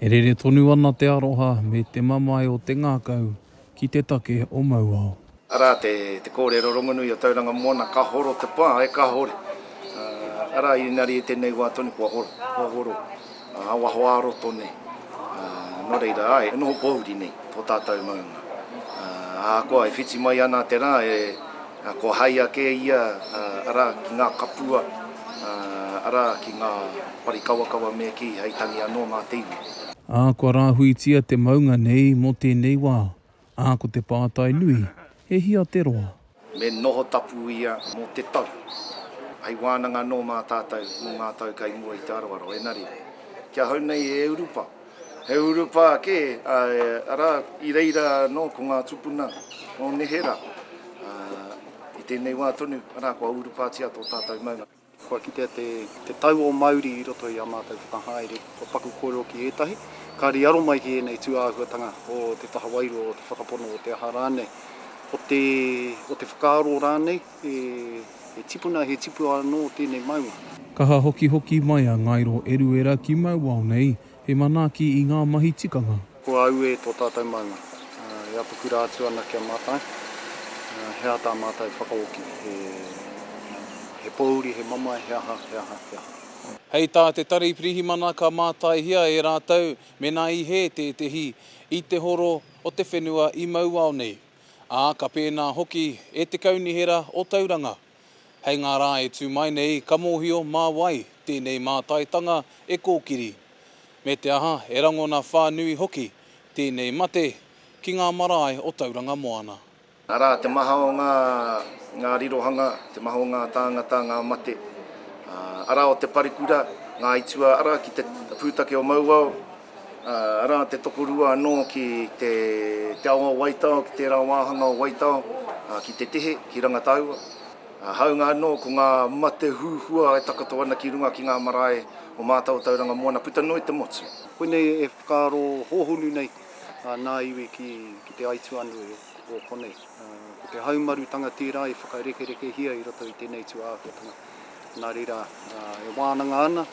E rere tonu ana te aroha me te mamae o te ngākau ki te take o Mauao. Arā te kōrero rongonui o Tauranga Moana, ka horo te pā, e ka hore. Arā, ēnari i tēnei wā tonu kua horo, kua horo ngā waho ā-roto nei. Nō reira, āe, e noho pōuri nei tō tātou maunga. Ahakoa e whiti mai ana te rā, e. Kua haea kē ia, arā, ki ngā kapua, arā, ki ngā parikawakawa me kī, hei tangi anō mā te iwi. Ā, kua rāhuitia te maunga nei mō tēnei wā, ā, ko te pātai nui, he hia te roa? Me noho tapu ia mō te tau. Hei wānanga anō mā tātou mō ngā tau kai mua i te aroaro, engari, ki ahau nei e Urupa, He urupā kē, āe, arā, i reira anō ko ngā tūpuna o neherā, ā, i tēnei wā tonu, arā, kua urupātia tō tātou maunga. Kua kitea te, te tau o Māori i roto i ā mātou whakahaere, kua paku kōrero ki ētahi, kāre i aro mai ki ēnei tūāhuatanga o te taha wairua, o te whakapono, o te aha rānei, o te, o te whakaaro rānei. He tipuna, he tipu anō tēnei maunga. Kaha hokihoki mai a Ngairo Eruera ki Mauao nei, he manaaki i ngā mahi tikanga. Ko Aue tō tātou maunga. E apakura atu ana ki a mātou, he aha tā mātou e whakaoki, he pōuri, he mamae, he aha, he aha, he aha. Hei tā te Tari Pirihimana ka mātaihia e rātou mēnā i hē tētehi i te horo o te whenua i Mauao nei. ā, ka pēnā hoki e te Kaunihera o Tauranga. Hei ngā rā e tū mai nei, ka mōhio mā wai tēnei mātaitanga e kōkiri, me te aha, e rangona whānui hoki tēnei mate ki ngā marae o Tauranga Moana. Arā, te maha o ngā rirohanga, te maha o ngā tāngata, ngā mate, arā, o te parekura, ngā aituā, arā, ki te pūtake o Mauao. arā, te tokorua anō ki te ao o Waitao, ki tērā wāhanga o Waitao, ki te tihi, ki Rangataua. Hāunga anō ko ngā mate huhua e takoto ana ki runga ki ngā marae o Mātautauranga moana puta noa i te motu. Koinei e whakaaro hōhonu nei a nā iwi ki te aituā nui o konei. Ko te haumarutanga tērā i whakarekerekehia i roto i tēnei tūāhuatanga. Nā reira, e wānanga ana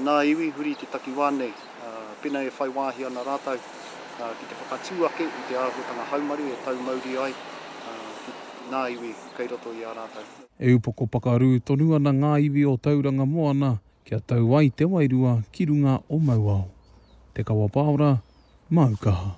nā iwi huri i te takiwā nei, pena e whai wāhi ana rātou ki te whakatū ake i te āhuatanga haumaru e tau mauri ai ngā iwi kei roto i a rātou. E upoko pakarū tonu ana ngā iwi o Tauranga Moana kia tau ai te wairua ki runga o Mauao. Te Kawa Paora, Māu Kaha.